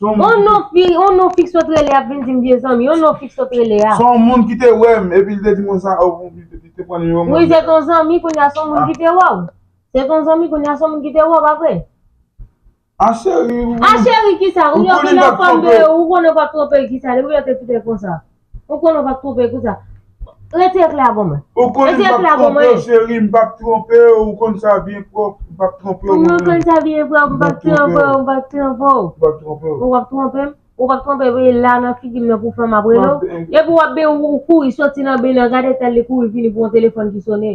On non fi, on non fi ki sot rele ap vin di m vye zanmi, on non fi ki sot rele a. Son moun ki te wè m epi li te di mwen sa oh li te pran nimewo m. Wi se ton zanmi kounye a son moun ki te wè w. Se ton zanmi kounye a son moun ki te wè w pa vre? Ah chérie ou konnen. Ah chérie kisa? Ou konnen w pa t twonpe l kisa? Depi lè w te fout el konsa. Ou konnen ou pap twonpe pou sa. Retire kle a ban mwen. Ou konnen m pap twonpe w cheri, m pap twonpe w, ou konn sa byen pwòp, m pap twonpe w manman. Ou konn sa byen pwòp, m pap twonpe w, m pap twonpe w. M pap twonpe w. Ou pap twonpe m, ou pap twonpe m, e la nan figi m nan pou fè m ap rele w. Epi w ap ben ou kouri soti nan ben nan, gad eta li kouri vini pou yon telefòn ki sone.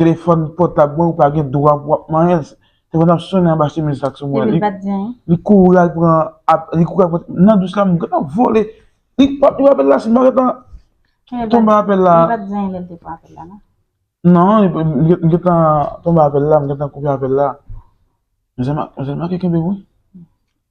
Telefòn pòtab mwen ou pa gen dwa pou ap manyen l. Telefòn ap sonnen anba chemiz la sou mwen. Li kouri al pran li kouri al pran nan dous la m gentan vole. Li pa pran apèl la si m pa gentan tonbe nan apèl la. Li pa t di anyen lè l te pran apèl la non. Non m gentan tonbe nan apèl la, m gentan koupe apèl la. Mizè m ak mizè m ak yo kenbe m wi.